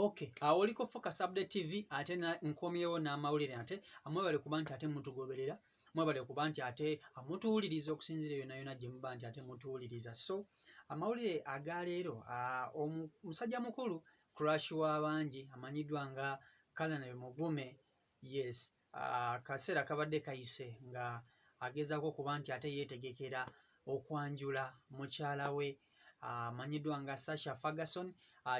okay awo oliko focus update tv ate na- nkomyewo n'amawulire ate amwebale kuba nti ate mutugoberera mwebale kuba nti ate amutuwuliriza okusinzira yona yona gye muba nti ate mutuwuliriza so amawulire aga leero ah, omu- musajja mukulu crash w'abangi amanyiddwa nga kalanabe mugume yes akaseera kabadde kayise nga agezaako okuba nti ate yeetegekera okwanjula mukyala we amanyiddwa nga Sasha Ferguson.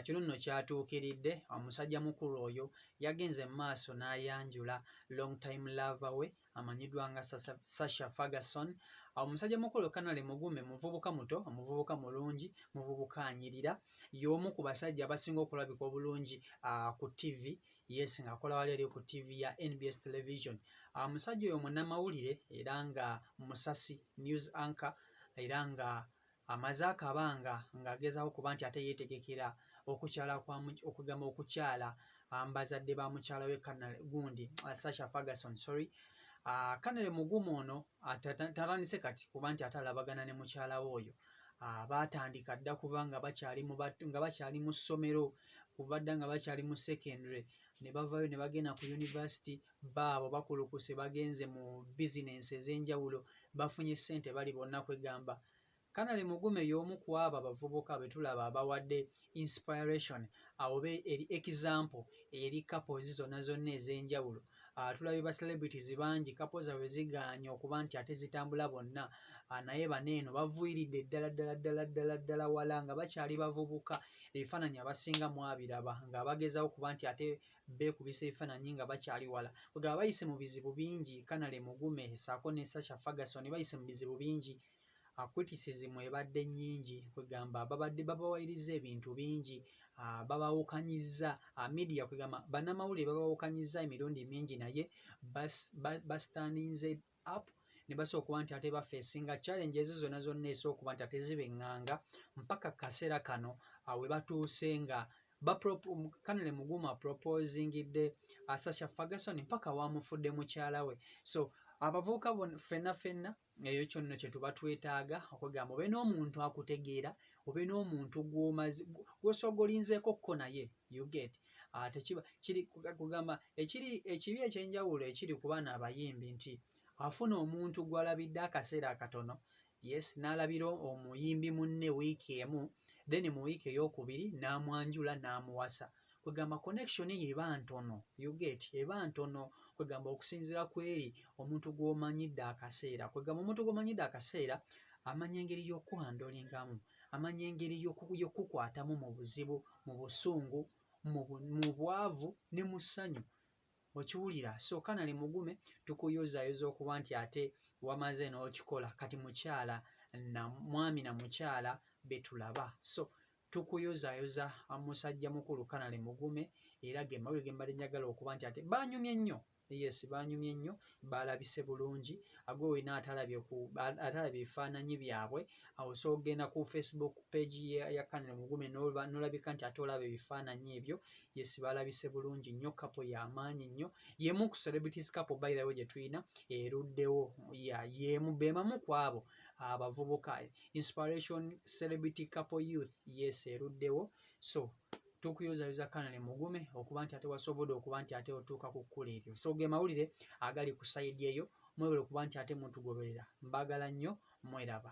Kino nno kyatuukiridde omusajja mukulu oyo yagenze mu maaso n'ayanjula long time lava we amanyiddwa nga Sasha Ferguson. Omusajja mukulu Kanale Mugume muvubuka muto, omuvubuka mulungi, muvubuka anyirira, y'omu ku basajja abasinga okulabika obulungi ku ttivi yes ng'akola wali eri ku ttiivi ya nbs television ah, omusajja oyo munnamawulire era nga musasi news anchor era nga amaze akabanga ng'agezaako kuba nti ate yeetegekera okukyala okugamba okukyala ah, mbazadde ba mukyala we canal gundi ah, sasha ferguson sorry kanale mugumu ono tatandise kati kuba nti ate alabagana ne mukyala we oyo baatandika dda kuba nga bakyali mu ssomero kuva dda nga bakyali mu secondary ne bavayo ne bagenda ku university baabo bakulukuse bagenze mu bizinensi ez'enjawulo bafunye ssente bali bonna kwegamba kanale mugume y'omu ku abo abavubuka be tulaba abawadde inspiration awo be eri example eri couples zonna zonna ez'enjawulo ah, tulabye ba celebrities bangi kapo zaabwe zigaanye okuba nti ate zitambula bonna ah, naye bano eno bavuiridde ddala ddala ddala ddala ddala wala nga bakyali bavubuka ebifaananyi abasinga mwabiraba nga bagezawo kuba nti ate beekubisa ebifaananyi nga bakyali wala kwegaba bayise mu bizibu bingi kanale mugume saako ne sacha ferguson bayise mu bizibu bingi uh, criticism ebadde nyingi kwegamba babadde babawayiriza ebintu bingi uh, babawukanyiza uh, media kwegamba banamawulire babawukanyiza emirundi mingi naye bastandinze bas, bas up ne basooka okuba nti ate bafeesinga challenge ezo zonna zonna esooka okuba nti ate zibenganga mpaka kaseera kano uh, we batuuse nga kanale mugumu aproposingidde asasha uh, fagason mpaka wamufudde mukyala we so abavubuka ffenna ffenna eyo kyonno kyetuba twetaaga okwegamba obe n'omuntu akutegeera obe n'omuntu gwomazi gwosooga olinzeeko kko naye uget ah, tekiba kiri kugamba ekiri ekibi ekyenjawulo ekiri ku baana abayimbi nti afuna omuntu gwalabidde akaseera akatono yes n'alabira omuyimbi munne wiiki emu then mu wiiki eyokubiri n'amwanjula n'amuwasa kwegamba connection ye eba ntono you get eba ntono kwegamba okusinzira kweri omuntu gw'omanyidde akaseera kwegamba omuntu gw'omanyidde akaseera amanya engeri y'okukuhandolingamu amanya engeri y'okukukwatamu mu buzibu mu busungu mu bwavu ne mu ssanyu okiwulira so kanali mugume tukuyozaayoza okuba nti ate wamaze n'okikola kati mukyala na mwami na mukyala betulaba so Tukuyozayoza musajja mukulu kanale mugume era ge mawulire ge mbadde njagala okuba nti ate baanyumye nnyo yes baanyumye nnyo baalabise bulungi agwe olina atalabye ku atalabye ebifaananyi byabwe awo so ogenda ku facebook page ya kanale mugume nolabika nti ate olaba ebifaananyi ebyo yes baalabise bulungi nnyo kapo y'amaanyi nnyo yemu ku celebrities kapo bayirawo gye tulina eruddewo yeemu bemamu ku abo abavubuka inspiration celebrity couple youth yes eruddewo so tukuyozayuza kanale mugume okuba nti ate wasobode okuba nti ate otuuka ku kkula eryo so ge mawulire agali ku sayidi eyo mwebale okuba nti ate mutugoberera mbagala nnyo mweraba